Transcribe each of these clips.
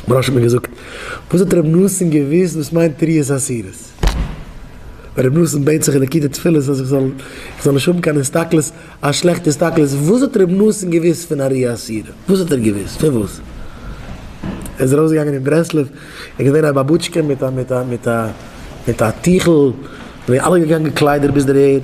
בראש האט מיר געזאגט, וואס האט רבי נתן געוואוסט וואס מיינט תריעס עשירות? ווען רבי נתן בעט זיך אין די קי ד תפילות אז איך זאל איך זאל נישט האבן קיין הסתכלות, א שלעכטע הסתכלות, וואס האט רבי נתן געוואוסט פון אריה עשירה? וואס האט ער געוואוסט? פון וואס? ער איז ארויס געגאנגען אין ברסלב, ער איז געווען א באבוטשקע מיט א מיט א מיט א מיט א טיכל, זענען אלע געגאנגען געקליידעט ביז דער ערד.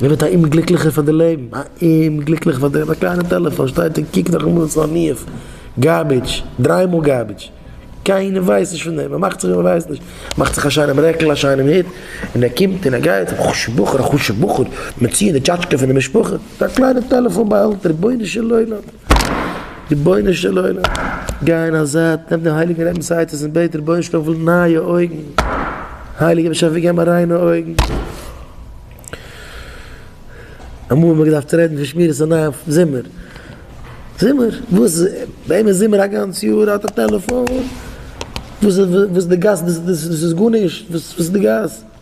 מען ווערט א אומגליקליכער פאר די לעבן, א אומגליקליכער פאר דעם, א קליינע טעלעפאן שטייט און קוקט נאך אמאל ס'איז עני אוו גארבידזש, דריי מאל גארבידזש, קיינער ווייסט נישט פון דעם, ער מאכט זיך ווי מען ווייסט נישט, מאכט זיך א שיינעם רעקל א שיינעם הוט, און ער קומט און ער גייט, א חשובע בחור א חשובע בחור, מיר ציען די טשאטשקע פון די משפחה, מיט א קליינע טעלעפאן ביי די הענט, רבונו של עולם. רבונו של עולם, גיי אין א זייט, נעם די הייליגע רעבען'סאייטעס און בעט רבונו של עולם פון נייע אויגן, הייליגער באשעפער גיב מיר ריינע אויגן. אמאל האט מען געדארפט רעדן פון שמירת עיניים אויף זומער, זומער? וואס איז, וועם איז זומער א גאנץ יאר האט א טעלעפאן? וואס איז די גאס, דאס איז גארנישט, וואס איז די גאס?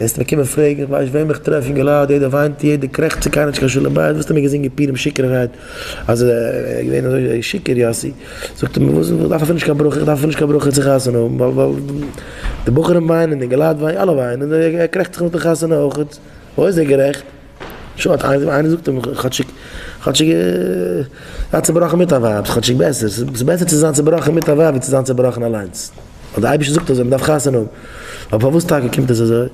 וועסט מיר קומען פרעגן איך ווייס וועם איך טרעף אין געלאד יעדער וויינט יעדער קרעכצט ס'איז קיינער נישט קיין שלום בית וואסטו מיר געזינגען פירים שיכור'ערהייט אז ער איז געווען אזוי שיכור יאסי זאגט ער מיר וואס איך דארף אפילו נישט קיין ברכה איך דארף אפילו נישט קיין ברכה צו חתונה האבן ווייל די בחורים וויינען אין געלאד וויינט אלע וויינען ער קרעכצט זיך נאך די חתונה אויכעט וואו איז ער גערעכט? שאט, איינער זאגט אים כאטשיג כאטשיג זיי צובראכן מיט א ווייב איז כאטשיג בעסער, ס'איז בעסער צו זיין צובראכן מיט א ווייב ווי צו זיין צובראכן אליינס, ווייל די אייבערשטער זאגט אזוי מען דארף חתונה האבן, אבער פארוואס טאקע קומט עס אזוי?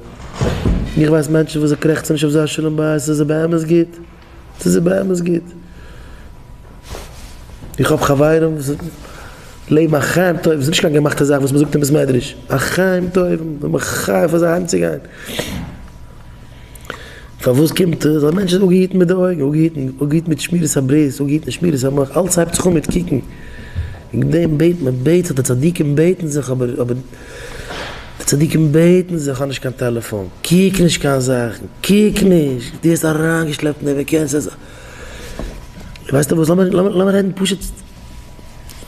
איך ווייס מענטשן וואס זיי קרעכצן נישט אויף זייער שלום בית, עס איז זיי באמת גוט, עס איז זיי באמת גוט, איך האב חברים וואס לעבן א חיים טובים, ס'איז נישט קיין געמאכטע זאך וואס מען זאגט אין בית מדרש, א חיים טובים, זיי זענען מחוייב פאר זיי אהיים צו גיין. פארוואס קומט עס אז מענטש איז אפגעהיטן מיט די אויגן, אפגעהיטן, אפגעהיטן מיט שמירת הברית, אפגעהיטן מיט שמירת המח, אלץ הייבט זיך אן מיט קוקן, וועגן דעם בעט מען, בעט זיך, די צדיקים בעטן זיך, אבער, אבער, די צדיקים בעטן זיך, האב נישט קיין טעלעפאן, קוק נישט קיין זאכן, קוק נישט, דו ווערסט אריינגעשלעפט אין דעם, ווער קען עס, ווייסטע וואס, לאמיר, לאמיר רעדן פשוט,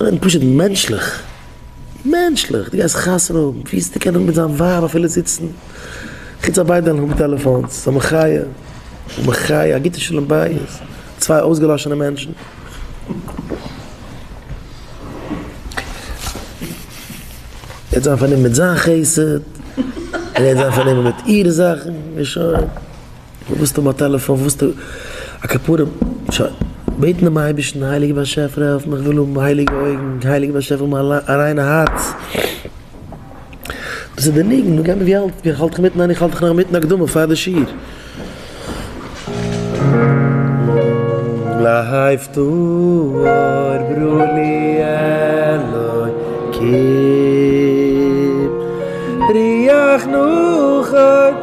רעדן פשוט מענטשליך. מענטשליך, דו גייסט חתונה האבן, וויאזוי קען ער האבן מיט זיין ווייב אפילו זיצן, חוץ אז ביידע האבן טעלעפאונס, א מחיה, א מחיה, א גוטע שלום בית, צוויי אויסגעלאשענע מענטשן. ער וועט זיין פארנומען מיט זיין חסד, זי וועט זיין פארנומען מיט אירע זאכן, און שוין. רופסט אים א טעלעפאן וואלסטו א כפרה שוין בעטן דעם אייבערשטן הייליגער באשעפער העלף מיך כ'וויל האבן הייליגע אויגן, הייליגער באשעפער האב מיר א ריינע הארץ. דאס איז די ניגון, נו גיי מיר ווי האלט ווי האלט איך אינמיטן ניין איך האלט דיך נאך אינמיטן הקדמה פאר די שיעור. לייף טאר ברא לי אלוקים ריח נחות